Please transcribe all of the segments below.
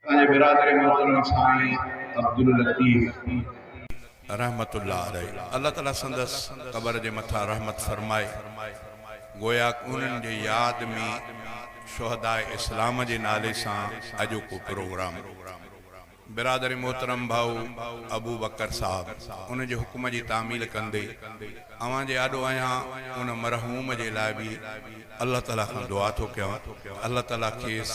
اسان جي برادري محترم سائين عبداللطيف. رحمة الله عليه الله تعالي سندس قبر جي مٿان رحمت فرمائي گوياڪ انهن جي ياد ۾ شهداء اسلام جي نالي سان اڄوڪو پروگرام برادري محترم ڀائو ابوبڪر صاحب ان جي حڪم جي تعميل ڪندي اوهان جي آڏو آهيان ان مرحوم جي لاء به الله تعالي کان دعا ٿو ڪيان ته الله تعالي کيس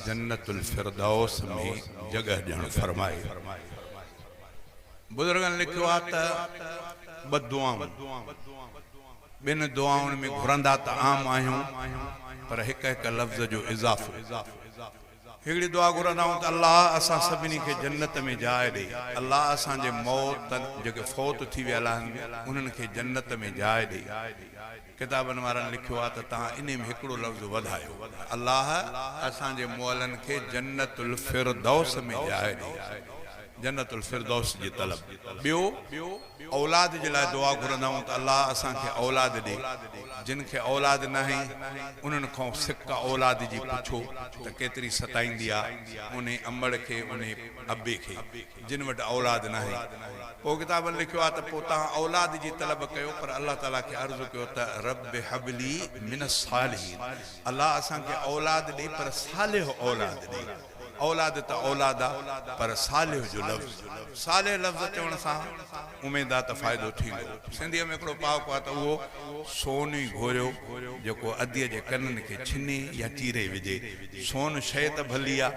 جنت الفردوس ۾ جڳهه ڏيڻ فرمائي. بزرگن لکيو آهي ته ٻه دعائون ٻن دعائن ۾ گهرندا ته عام آهيون پر هڪ هڪ لفظ جو اضافو. هڪڙي دعا گهرندائون ته الله اسان سڀني کي جنت ۾ جاء ڏي، الله اسان جي موتن، جيڪي فوت ٿي ويل آهن، انهن کي جنت ۾ جاء ڏي. ڪتابن وارن لکيو آهي ته تهان انهي ۾ هڪڙو لفظ وڌايو، الله اسان جي مئلن کي جنت الفردوس ۾ جاء ڏي، جنت الفردوس جي طلب. ٻيو. اولاد جي لاء دعا گهرندا آهيون ته الله اسان کي اولاد ڏي، جن کي اولاد ناهي انهن کان سڪ اولاد جي پڇو ته ڪيتري ستائيندي آ انهي امڙ کي انهي ابي کي جن وٽ اولاد ناهي. پوء ڪتابن لکيو آ ته پوء تهان اولاد جي طلب ڪيو پر الله تعالي کي عرض ڪيو ته رب هب لي من الصالحين الله اسان کي اولاد ڏي پر صالح اولاد ڏي. اولاد ته اولاد آ پر صالح جو لفظ صالح لفظ چوڻ سان اميد آ ته فائدو ٿيندو. سنڌيء ۾ هڪڙو پهاڪو آ ته اهو سون ئي گهوريو جيڪو اديء جي ڪنن کي ڇني يا چيري وجهي. سون شيء ته ڀلي آ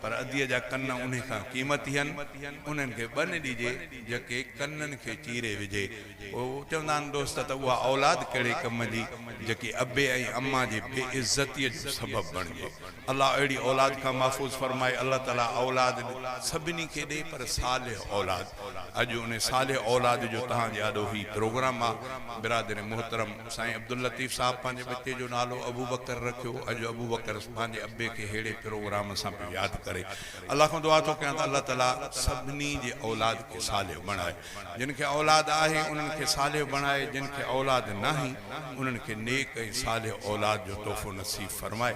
پر اديء جا ڪن انهي کان قيمتي هن. انهن کي ٻن ڏجي جيڪي ڪنن کي چيري وجهي. چوندا آهن دوست ته اها اولاد ڪهڙي ڪم جي جيڪي ابي ۽ اما جي بي عزتي جو سبب بڻجي. الله اهڙي اولاد کان محفوظ فرمائي. الله تعالي اولاد سڀني کي ڏئي پر صالح اولاد. اڄ ان صالح اولاد جو توهان جي آڏو هي پروگرام آ. برادر محترم سائين عبداللطيف صاحب پنهنجي ٻچي جو نالو ابوبڪر رکيو. اڄ ابوبڪر پنهنجي ابي کي ههڙي پروگرام سان پيو ياد ڪري. الله کان دعا ٿو ڪيان ته الله تعالي سڀني جي اولاد کي صالح بڻائي. جن کي اولاد آهي انهن کي صالح بڻائي جن کي اولاد ناهي انهن کي نيڪ ۽ صالح اولاد جو تحفو نصيب فرمائي.